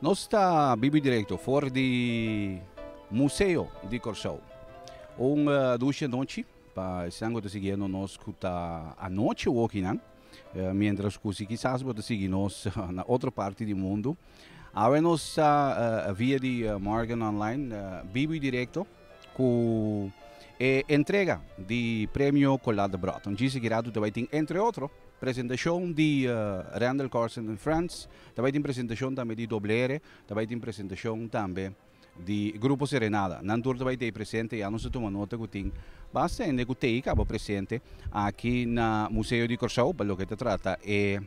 Nos ta bibi directo for di Museo di Corsou. Un dusha nochi pa esnan cu ta siguiendo nos cu ta anochi woki nan. Mientras cu si kisas bo ta sigui nos na otro parti di mundo, awe nos ta via di Morgan Online bibo y directo cu e entrega di Premio Colas de Broton. Djis e kira tu ta bay tin entre otro presentacion di Randall Corson en France, ta bay tin presentacion tambe di Doble R, ta bay tin presentacion tambe di Grupo Serenada. Nan tur ta bai tei presente i anos ta tuma nota ku tin basta hende ku tei kaba presente aki na Museo di Kòrsou pa loke ta trata e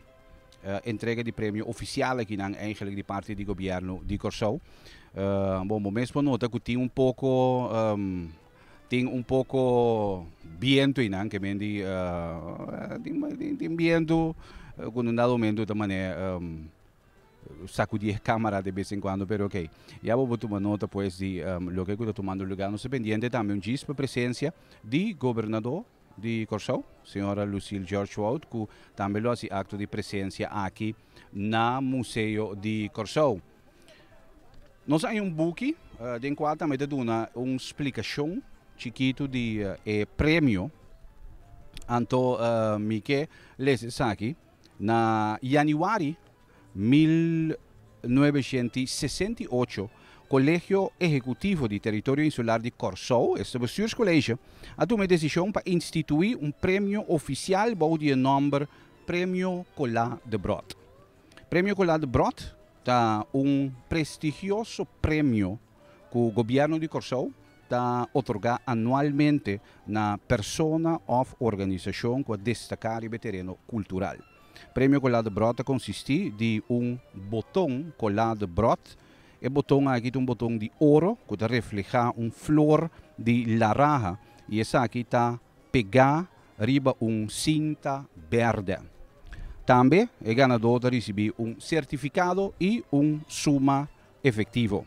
entrega di premio ofisial a kinan eigenlik di parti di Gobièrnu di Kòrsou. Bon, bo mes por nota ku tin un poko tin un poko bientu einan ke men di tin bientu ku un dado momento ta manera. Sakudí e kámara de bes en kuando, pero oké. Ya bobo tuma nota pues di loke ku ta tumando lugá. Nos ta pendiente tambe un djis pa presensia di Gobernadó di Kòrsou, señora Lucille George Woudt, ku tambe lo hasi akto di presensia aki na Museo di Kòrsou. Nos a haña un buki den kual tambe ta duna un splikashon chikitu di e premio, anto mi ke lesa esaki. Na yanüari mil nuebeshent i sesenta i ocho, Kolegio Ehekutivo di Teritorio Insular di Kòrsou, esta bestuurskolege, a tuma e desishon pa instituí un premio ofisial bou di e nòmber Premio Colá de Brot. Premio Colá de Brot ta un prestigioso premio ku Gobièrnu di Kòrsou, ta otorgá anualmente na persona òf organisashon ku a destaká riba e tereno kultural. Premio Cola de Brot ta konsistí di un boton Cola de Brot. E boton aki ta un boton di oro ku ta reflehá un flor di laraha i esaki ta pegá riba un sinta bèrdè. Tambe e ganadó ta risibí un sertifikado i un suma efektivo.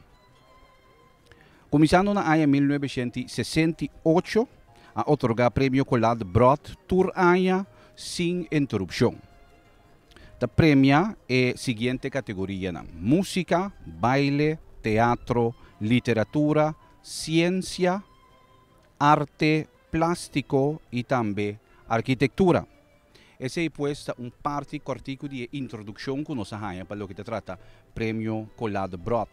Kuminsando na aña mil novecientos i sesenta i ocho a otorgá Premio Collard Broad tur aña sin interupshon. Ta premiá e siguiente kategorianan, Músika, Baile, Teatro, Literatura, Siensia, Arte, Plástiko i tambe Arkitektura. Esei pues ta un parti kòrtiku di e introdukshon ku nos a haña pa loke ta trata Premio Collade Brod.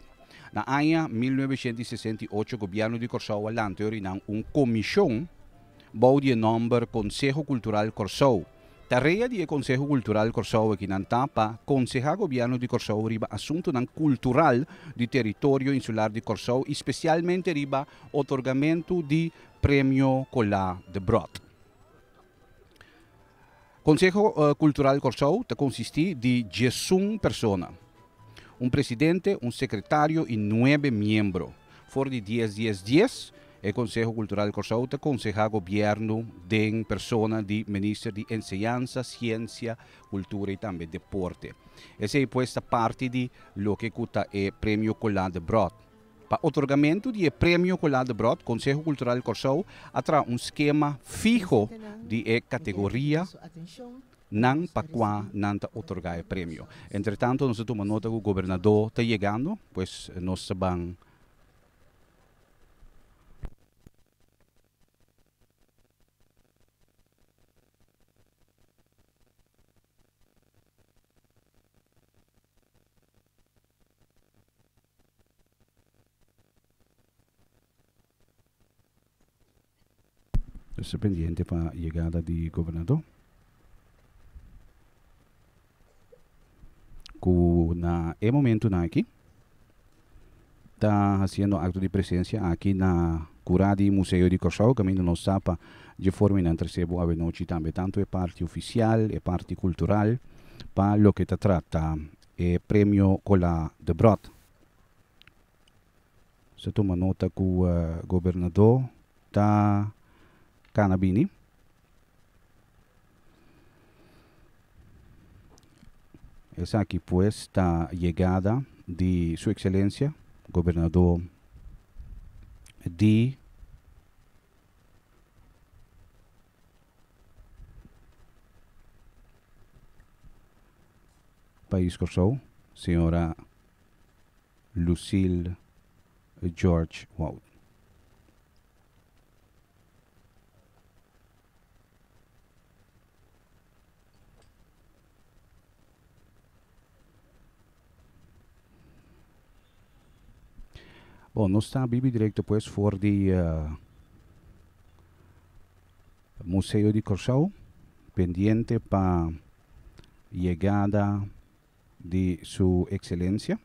Na aña mil novecientos i sesenta i ocho Gobièrnu di Kòrsou a lanta Yorinan un komishon bou di e nòmber Konseho Kultural Kòrsou. Tarea di e Konseho Kultural Kòrsou akinan ta pa konsehá Gobièrnu di Kòrsou riba asuntunan kultural di teritorio insular di Kòrsou i spesialmente riba otorgamentu di Premio Collade Brod. Konseho Kultural Kòrsou ta konsistí di diesun persona, un presidente, un sekretario i nuebe miembro. For di dies dies dies, e Konseho Kultural Kòrsou ta konsehá gobièrnu den persona di Minister di Enseñansa, Siensia, Kultura i tambe Deporte. Esei pues ta parti di loke ku ta e Premio Colas de Brood. Pa otorgamentu di e premio cu Lade Brot, Conseho Cultural Corsou a traha un schema fiho di e categoria nan pa cua nan ta otorga e premio. Entretanto nos ta tuma nota cu Gobernador ta yegando, pues nos ta ban. Esta pendiente pa yegada di gobernador cu na e momentonan aki ta haciendo acto di presencia aki na cura di Museo di Corsou caminda nos sa pa dje forma y nan trece bo awe nochi tambe tanto e parti oficial e parti cultural pa loke ta trata e Premio Colas de Brood. Sa tuma nota cu Gobernador ta cana bini. Esaki pues ta yegada di Su Excelencia Gobernador di Pais Kòrsou, señora Lucille George Woud. Bon, nos ta biba direkto pues for di Museo di Kòrsou, pendiente pa yegada di Su Ekselensia.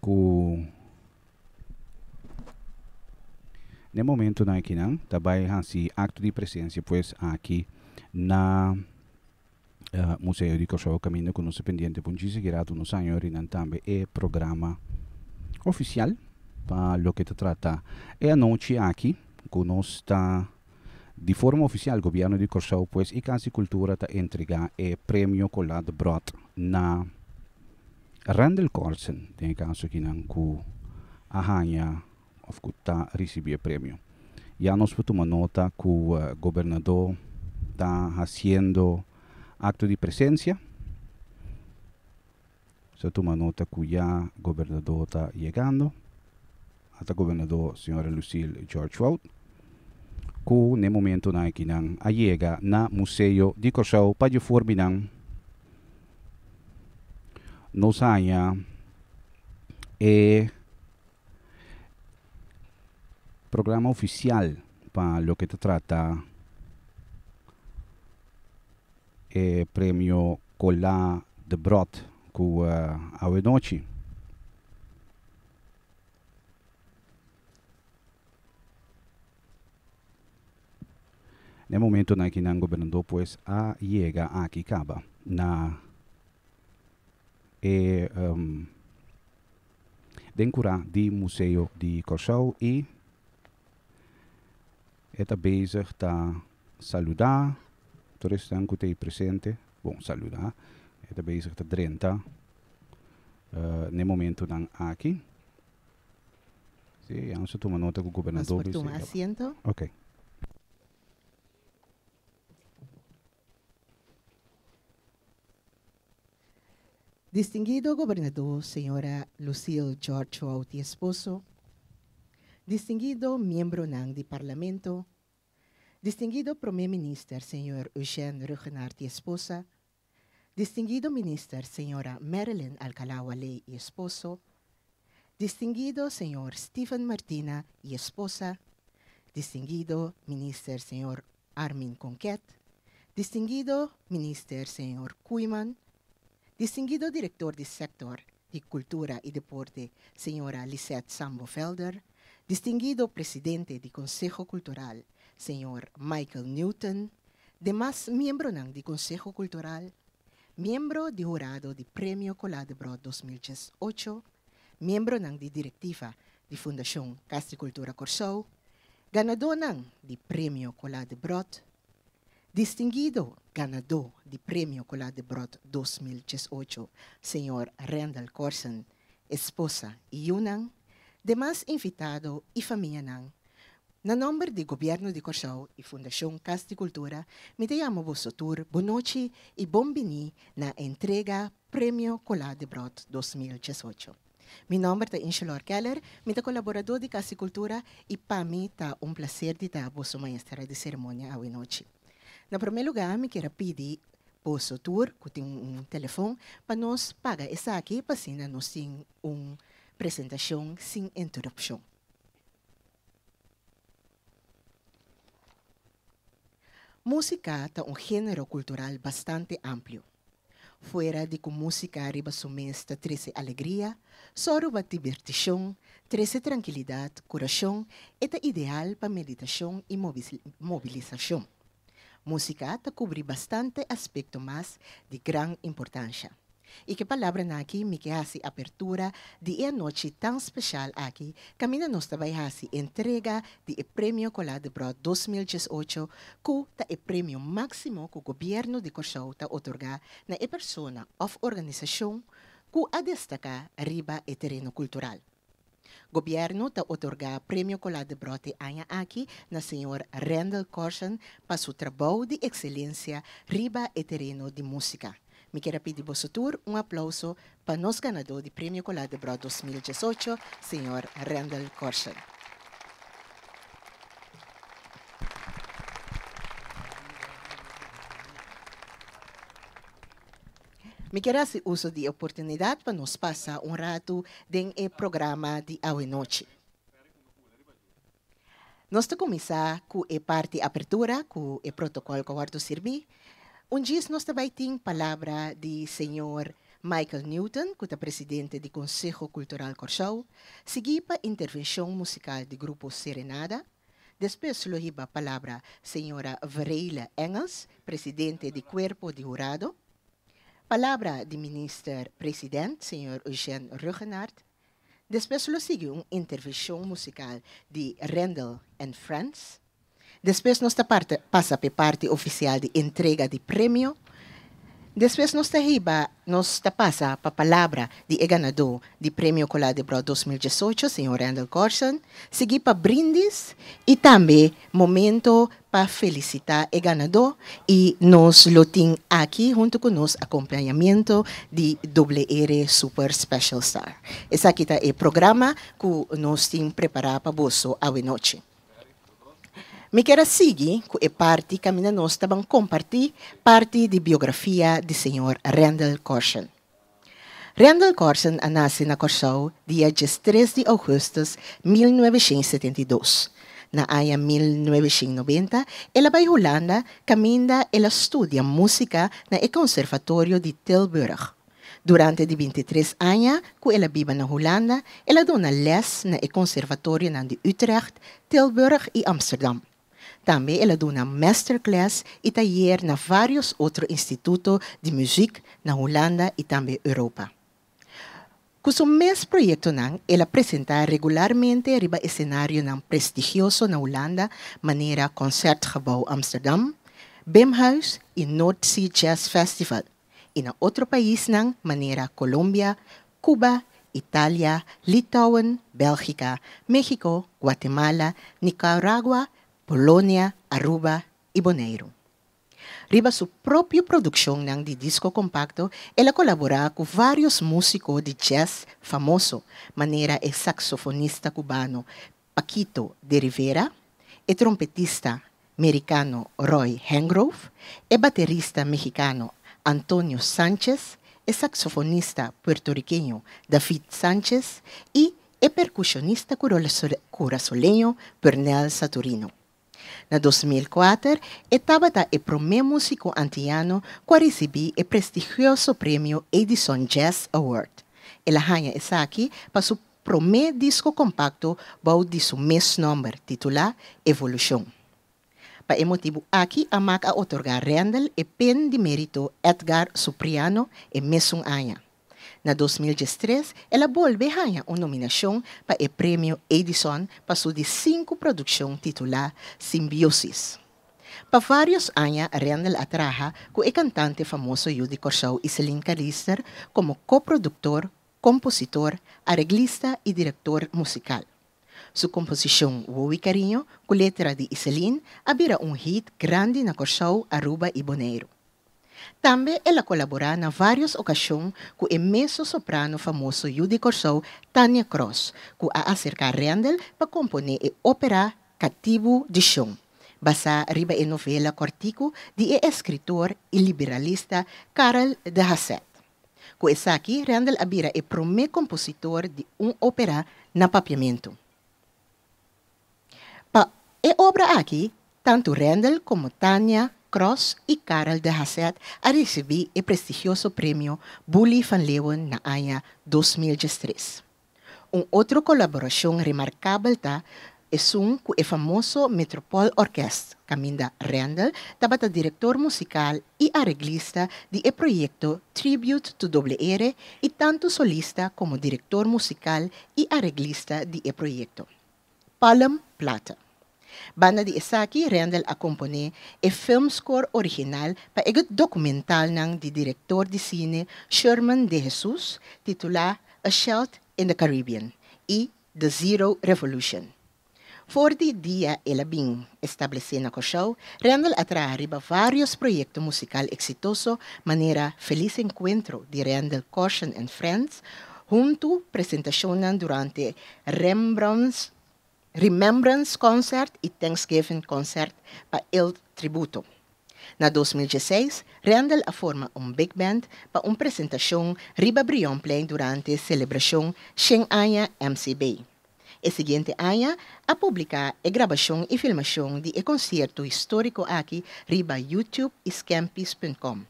Ku n'e momentunan akinan ta bai hasi akto di presensia pues aki na Museo di Kòrsou kaminda ku nos ta pendiente pa un chis higuera atu nos aña yori nan tambe e programa ofisial pa loke ta trata e anochi aki ku nos ta Di forma ofisial Gobierno di Corsou pues y Cans y Cultura ta entrega e Premio Colat Brot na Randel Corsen den e caso aki nan cu a hanja of cu ta ricibi e premio. Ya nos por tuma nota cu Gobernador ta haciendo acto di presencia. Sa tuma nota cu ya gobernador ta yegando. Ata gobernador señora Lucille George Fout cu n'e momento na aki nan a yega na Museo di Corsou pa dje for binan nos haya e programa oficial pa loke ta trata. e Premio Cola de Brot cu awenochi. Na e momentonan aki nan Gobernador pues a yega aki caba na e den cura di Museo di Corsow y. E ta bezig ta saludá tur esnan ku ta ei presente. Bon, saludá, e ta bezig ta drenta n'e momentunan aki. Sí, anos ta tuma nota ku gobernadó. Nos por tuma asiento. Oké. Distinguido Gobernadó Señora Lucille George Wouty Esposo, Distinguido Miembronan di Parlamento, Distinguido Prome Minister Señor Eugène Ruggenaert y Esposa, Distinguido Minister Señora Marilyn Alcalá Walley y Esposo, Distinguido Señor Stephen Martina y Esposa, Distinguido Minister Señor Armin Conquet, Distinguido Minister Señor Koeiman, Distinguido Director di Sector di Cultura y Deporte Señora Lisette Sambo Velder, Distinguido Presidente di Conseho Cultural Señor Michael Newton, demas miembronan di Conseho Cultural, Miembro di Hurado di Premio Coladebrood dos mil diesocho, Miembronan di Directiva di Fundacion Cas di Cultura Corsou, ganadonan di Premio Cola de Brot, Distinguido ganado di Premio Cola de Brot dos mil cies ocho, señor Rendel Corson, esposa y yunan, demas invitado y famianan, na nomber di Gobierno di Corsou y Fundacion Cas di Cultura mi ta yama boso tur bon nochi y bon bini na entrega Premio Cola de Brot dos mil cies ocho. Mi nomber ta Ingelor Keller, mi ta colaborador di Casa di Cultura y pa mi ta un placer di ta boso maestra di ceremonia awinochi. Na prome lugar mi kier a pidi boso tur cu tin un telefon pa nos paga esaki pa asina nos tin un presentacion sin interupcion. Músika ta un género kultural bastante amplio. Fuera di ku músika riba su mes ta trese alegria, sòruba dibirtishon, trese trankilidat, kurashon, e ta ideal pa meditashon i mobilisashon. Músika ta kubrí bastante aspekto mas di gran importansha. I ku e palabranan akí mi ke hasi apertura di e anochi tan speshal aki kaminda nos ta bai hasi entrega di e Premio Colas de Brood dos mil dies ocho ku ta e premio máksimo ku Gobièrnu di Kòrsou ta otorgá na e persona òf organisashon ku a destaká riba e tereno kultural. Gobierno ta otorga Premio Colat de Brote aña aki na señor Rendel Corson pa su trabou di excelencia riba e tereno di musica. Mi kier a pidi boso tur un aplauso pa nos ganador di Premio Colat de Brot dos mil diesocho, señor Rendel Corson. Mi kier hasi uso di e oportunidat pa nos pasa un ratu den e programa di awe-nochi. Nos ta kuminsá ku e parti apertura ku e protokòl Kòrto Sirbí. Un djis nos ta bai tin palabra di señor Michael Newton ku ta presidente di Konseho Kultural Kòrsou, siguí pa intervenshon musikal di grupo Serenada, Despues lo hiba palabra señora Veraile Engels, presidente di Cuerpo di Hurado, palabra di Minister President, señor Eugène Ruggenaert. Despues lo sigui un intervenshon musical di Rendel and Friends. Despues nos ta pasa p'e parti oficial di entrega di premio. Despues nos ta hiba, nos ta pasa pa palabra di e ganadó di Premio Cola de Brood dos mil diesocho, señor Randall Gorson, sigui pa brindis y tambe momento pa felicita e ganadó y nos lo tin aki hunto cu nos acompañamiento di WR Super Special Star. Esaki ta e programa cu nos tin prepara pa boso awe nochi. Mi kier a sigui cu e parti caminda nos ta ban comparti parti di biografia di señor Randall Corson. Randall Corson a naci na Corsou dia diestres di augustus mil nuebeshent setenta i dos. Na aña mil nuebeshent noventa el a bai Hulanda caminda el a studia musica na e conservatorio di Tilburg. Durante di binti tres aña ku el a biba na Hulanda, el a duna lès na e konservatorionan di Utrecht, Tilburg i Amsterdam. Tambe el a duna mèsterkles i tayer na vários otro instituto di muzik na Hulanda i tambe Europa. Ku su mes proyektonan el a presentá regularmente riba esenarionan prestigioso na Hulanda manera Concertgebouw Amsterdam, Bimhuis i Noordzee Jazz Festival. i na otro paisnan manera Colombia, Cuba, Italia, Litouwen, Belgica, Mexico, Guatemala, Nicaragua, Polonia, Aruba i Boneiro. Riba su propio produccionnan di disco compacto el a colabora cu varios musico di jazz famoso manera e saxofonista cubano Paquito de Rivera, e trompetista mericano Roy Hengrove, e baterista mexicano Antonio Sanchez, e saxofonista puertoriqueño David Sanchez y e percusionista curazoleño Pernell Saturino. Na dos mil kuater, e tabata e promé músiko antiano ku a risibí e prestigioso premio Edison Jazz Award. El a haña esaki pa su promé disko kompakto bou di su mes nòmber, titulá Evolushon. Pa e motibu aki a mak a otorgá Randall e Pen di Mérito Edgar Supriano e mesun aña. Na dos mil diestres el a bolbe haña un nominashon pa e Premio Edison pa su di sinku produkshon titulá Simbiosis. Pa vários aña Rendel a traha ku e kantante famoso yu di Kòrsou Iselin Kalister komo koproduktor, kompositor, areglista i direktor musikal. Su komposishon Wowie Cariño ku letra di Iselin a bira un hit grandi na Kòrsou, Aruba i Boneiru. Tambe el a colaborá na varios ocasion cu e mezzo-soprano famoso yu di Corsou, Tania Cross, cu a acercá Rendel pa componé e opera Catibu di Sion, basá riba e novela corticu di e escritor y liberalista Karel de Hasselt. Cu esaki Rendel a bira e prome compositor di un opera na Papiamento. Pa e obra aki, tantu Rendel komo Tania Cross i Karel de Hassett a risibí e prestigioso Premio Bully van Leeuwen na aña dos mil diestres. Un otro kolaborashon remarkabel ta esun ku e famoso Metropoolorkest, kaminda Rendel tabata direktor musikal i areglista di e proyekto Tribute to Doble Ere i tantu solista komo direktor musikal i areglista di e proyekto. Palm Plata. Banda di esaki Rendel a komponé e filmscore original pa e dokumentalnan di direktor di sine Sherman De Jesus titulá A Shelt in the Caribbean i The Zero Revolution. For di dia el a bin establesé na Kòrsou, Randall a traha riba vários proyekto musikal eksitoso manera Feliz Encuentro di Randall Caution and Friends huntu presentashonnan durante Rembrandts Remembrance Concert i Thanksgiving Concert pa El Tributo. Na dos mil dieseis, Randall a forma un big band pa un presentashon riba Brionplein durante selebrashon shen aña MCB. E siguiente aña a publiká e grabashon i filmashon di e konsierto históriko aki riba YouTube i Scampies.com.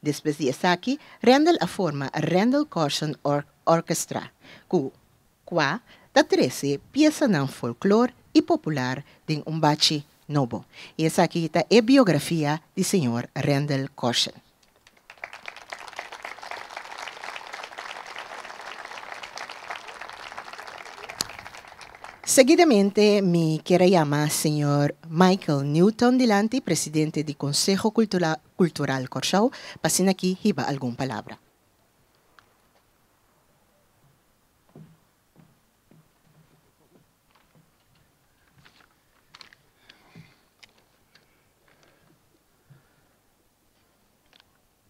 Despues di esaki Rendel a forma Rendel Corson Orchestra ku kua ta trese piesanan folklor i popular den un bachi nobo. I esaki ta e biografia di señor Rendel Corson. Seguidamente mi quier a yama señor Michael Newton dilanti, Presidente di Conseho Cultural Corcao, pa asina aki hiba algun palabra.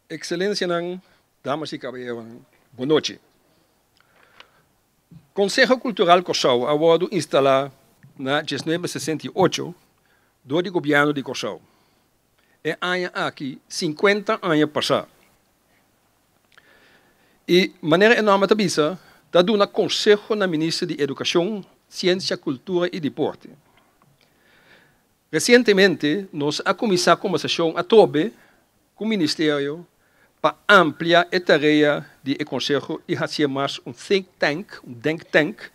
Ekselencianan, damas i kaballeronan, bon nochi. Konseho Kultural Kòrsou a wòrdu instalá na diesnuebe sesenta i ocho dor di Gobièrnu di Kòrsou. E aña aki sinkuenta aña pasá i manera e nòmber ta bisa ta duna konseho na Minister di Edukashon, Siensia, Kultura i Dipòrte. Resientemente nos a kuminsá kombersashon atrobe ku ministerio pa amplia e tarea di e konseho i hasié mas un think tank, un denktank,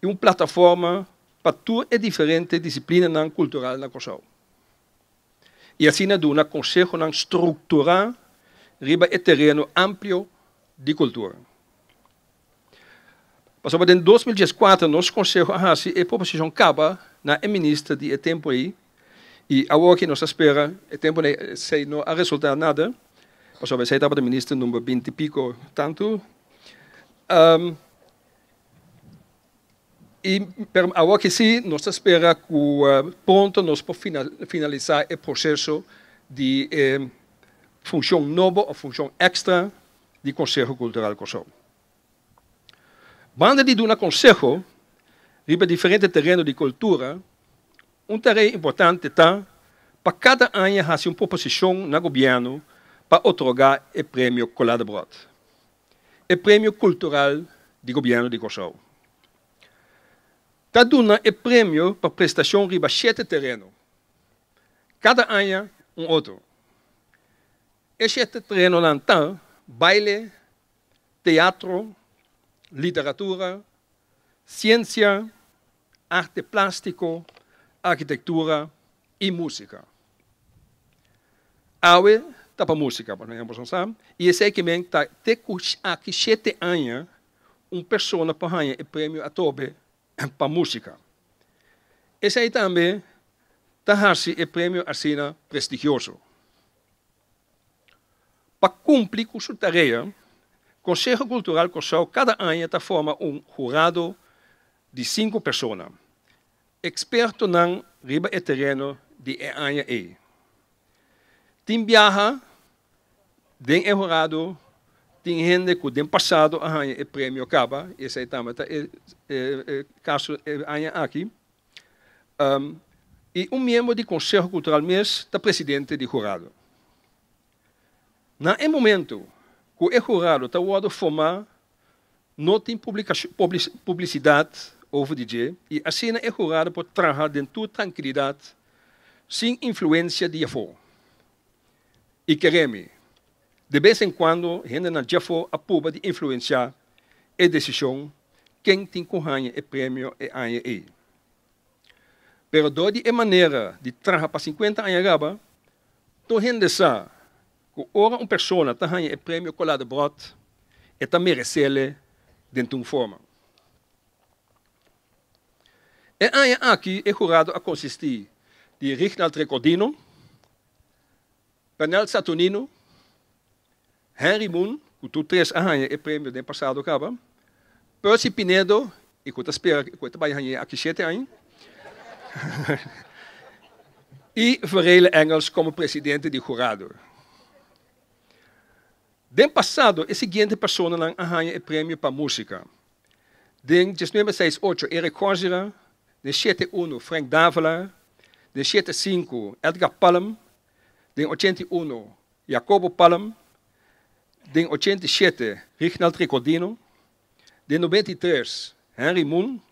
i un plataforma pa tur e diferente disiplinanan kultural na Kòrsou i asina duna konsehonan strukturá riba e tereno amplio di kultura. Pasobra den dos mil dies kuater nos konseho a hasi e proposishon kaba na e minister di e tempu ei, i awor ke nos a spera e tempu na esei no a resultá nada, pasobra esei tabata minister number binti piko tantu, i pero awor ke sí nos ta spera ku pronto nos por finalisá e proseso di e funshon nobo òf funshon èkstra. di Konseho Kultural Kòrsou. Banda di duna konseho riba diferente tereno di kultura, un tarea importante ta pa kada aña hasi un proposishon na gobièrnu pa otorgá e Premio Cola de Brot, e premio kultural di Gobièrnu di Kòrsou. Ta duna e premio pa prestashon riba shete tereno, kada aña un otro. E shete trenonan ta, baile, teatro, literatura, siensia, arte plastiko, arkitektura i musika. Awe ta pa musika, por ehempel, nos sa, i esei ke men ta te ku aki shete aña un persona por haña e premio Atobe pa músika. Esei tambe ta hasi e premio asina prestigioso. Pa kumpli ku su tarea, Konseho Kultural Kòrsou kada aña ta forma un hurado di sinku persona, ekspertonan riba e tereno di e aña ei. Tin biaha Den e horado tin hende ku den pasado a haña e premio kaba, i esei tambe ta e kaso e aña aki. I un miembro di Konseho Kultural mes ta presidente di horado. Na e momentu ku e horado ta wòrdu fomá no tin publisidat over di dje i asina e horado por traha den tur trankilidat sin influensia di afó. i kere mi. De bes en kuando hendenan dje afó a pruba di influensiá e desishon ken tin ku haña e premio e aña ei. Pero dor di e manera di traha pa sinkuenta aña riba, tur hende sa ku ora un persona ta haña e premio Colade Brot, e ta meres'é den tur forma. E aña aki e hurado a konsistí di Rignald Recordino, Pernell Saturnino, Henry Moon, ku tur tres a haña e premio den pasado kaba, Percy Pinedo, i ku ta spera ku e ta bai hañ'é aki shete aña, i Verele Engels komo presidente di hurado. Den pasado e siguiente personanan a haña e premio pa músika, Den dieznuebe seis ocho, Eric Corsier, den siete unu, Frank Davila, den siete sinku, Edgar Palm, den ochenta i unu, Jacobo Palm, den ochenta i siete, Rignald Ricordino, den nobenta i tres, Henry Moon,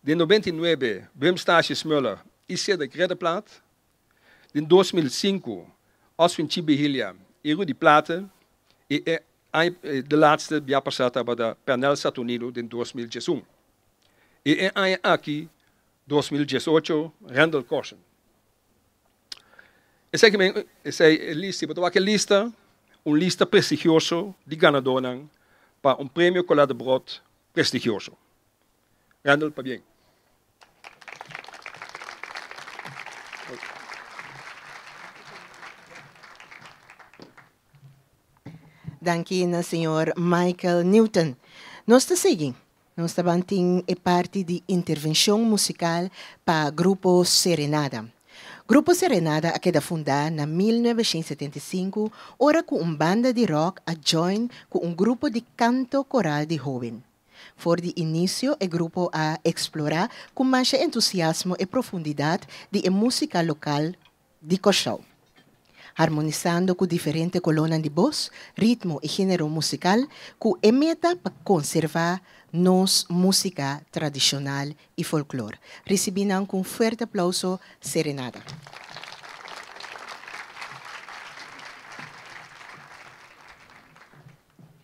den nobenta i nuebe, Wim Stasius Muller i Cedric Reddeplaat, Den dos mil sinku, Oswin Chi Bihilia, Iru di Plata, i e aña di laatste bia pasá tabata Pernel Saturnino den dos mil dies un, i e aña aki, dos mil dies ocho, Randall Corson. Esei kimen esei e lista, si bo ta wak e lista, un lista prestigioso di ganadónan pa un Premio Colette Brot prestigioso. Randall pabien. Danki na señor Michael Newton. Nos ta sigui. Nos ta ban tin e parti di intervencion musical pa Grupo Serenada. Grupo Serenada a keda funda na mil novecientos setenta i sinku ora cu un banda di rock a join cu un grupo di canto coral di hoben. For di inicio e grupo a explora cu masha entusiasmo e profundidad di e musica local di Cor-sou, harmonisando cu diferente colonnan di boz, ritmo y genero musical cu e meta pa conserva nos musica tradicional y folklor. Ricibi nan cu un fuerte aplauso Serenada.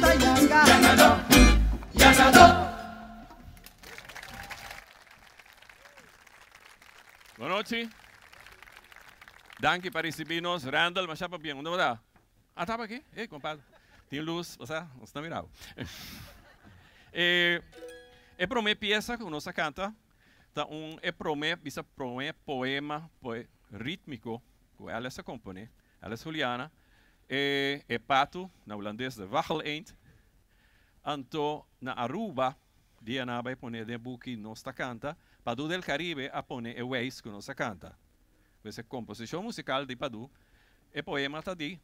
ta yanga. Yangadó, yangadó. Bon nochi. Danki pa risibí nos. Randall, masha pa bien. Unda bo ta? Ah, taba aki? Ey, compadre. Tin luz, pasá, nos ta mira bo. E, e promé piesa cu nos a canta ta un, e promé, bisa promé poema, poe, rítmico cu Alice a componé. Alice Juliana, E e patu, na Hulandes de Wacheleend, anto na Aruba, dia nan a bai pone den e buki Nos Ta Canta, Padu del Caribe a pone e weis cu nos a canta. Pues e composicion musical di Padu, e poema ta di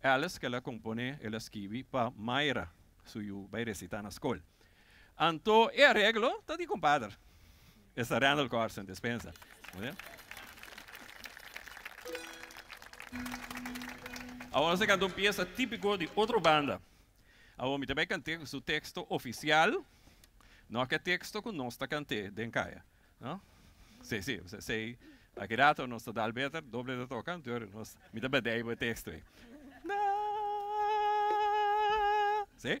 Alice cu el a compone, el a skibi pa Myra, su yu bai recita na scol. Anto e areglo ta di compadre. Esta Randall Corson Despensa. Awor nos a canta un pieza tipico di otro banda. Awor mi ta bay cant'e su texto oficial, no aquel texto cu nos ta cant'e den caya. No? Si, si, usted say, aki rato nos ta dal beter doble ta toca, anterior nos, mi ta bend'e aybo e texto ey. Naah. Si?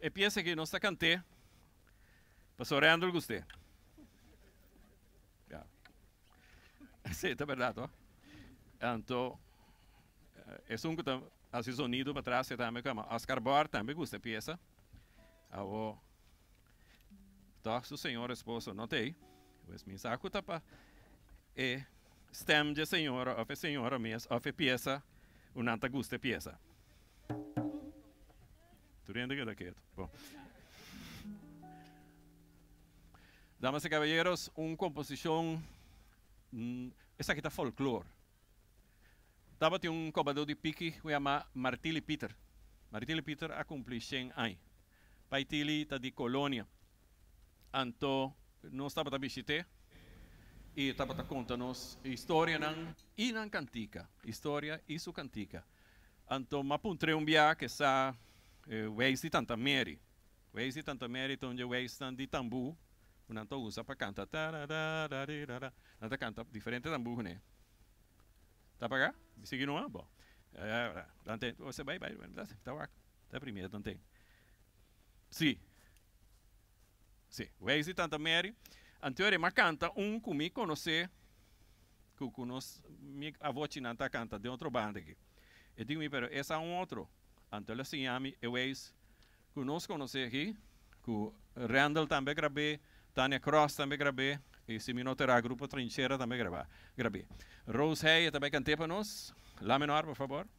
E piesa aki nos ta kant'é paso Randall gust'é. Ya. Sí, ta berdad hoor. Anto esun ku ta hasi sonido pa tras'e tambe kama Oscar Bor tambe gusta e piesa. Awo tog su señor esposo no ta ei. Pues mi sa ku ta pa e stem dje señora of e señora mes of e piesa ku nan ta gusta e piesa. Tur hende keda ketu. Bon. Damas i kaballeros, un komposishon, esaki ta folklor. Tabatin un kobadó di piki ku yamá Martili Pieter. Martili Pieter a kumplí shen aña. Bai Tilly ta di Colonia, anto nos tabata bishit'é i e tabata conta nos e historianan i nan cantica, historia i su cantica. Anto m'a puntr'é un bia ke sa e weis di Tanta Mary. Weis di Tanta Mary ta un dje weisnan di tambú ku nan ta usa pa canta tarararararara. Nan ta canta diferente tambú kuné. Ta paga? Mi sigui no a? Bo. Bai, bai, ta wak. Ta primier tan tin. Si. Si. Wei si tanta Mary. Anteor e mas canta un cu mi conoce cu cu nos mi avochinan ta canta den otro banda aki. E dic mi pero esa un otro. Anto el a siña mi e weis cu nos conoce aki cu Randall tambe a grab'e, Tania Cross tambe a grab'e y si mi no ta erá Grupo Trinchera tambe a grab'e. Rose Heye tambe a cant'e pa nos. La menor por favor.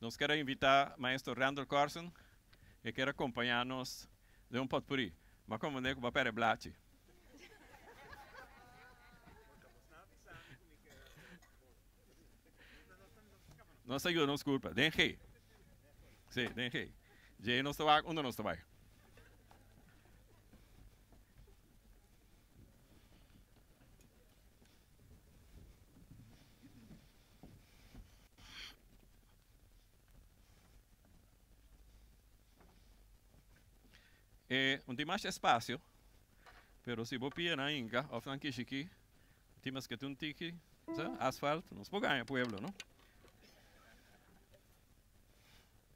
Nos ker a invitá Maestro Randall Carson, e ker a kompañá nos den un potpurrí, ma kon manera ku papel e blachi. Nos ta yuda nos kurpa den G. Sí, den G. Dje nos ta wak unda nos ta bai. E un tin masha espacio pero si bo pia nan hinka of nan kishi ki tin maske tin un tiki asfalt nos por gaña pueblo no.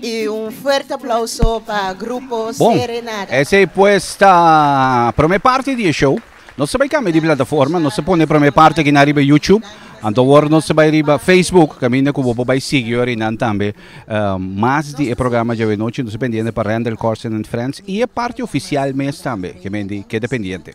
Y un fuerte aplauso pa grupo Serenada. Bon, esey pues ta prome parti di e show. Nos ta bay cambia di plataforma, nos ta pone prome parti aki na riba YouTube. Anto awor nos ta bay riba Facebook, caminda cu bo por bay sigui ora y nan tambe. Uh, mas di e programa djawe nochi nos ta pendiente pa Randall Corson and Friends y e parti oficial mes tambe, que mendi keda pendiente.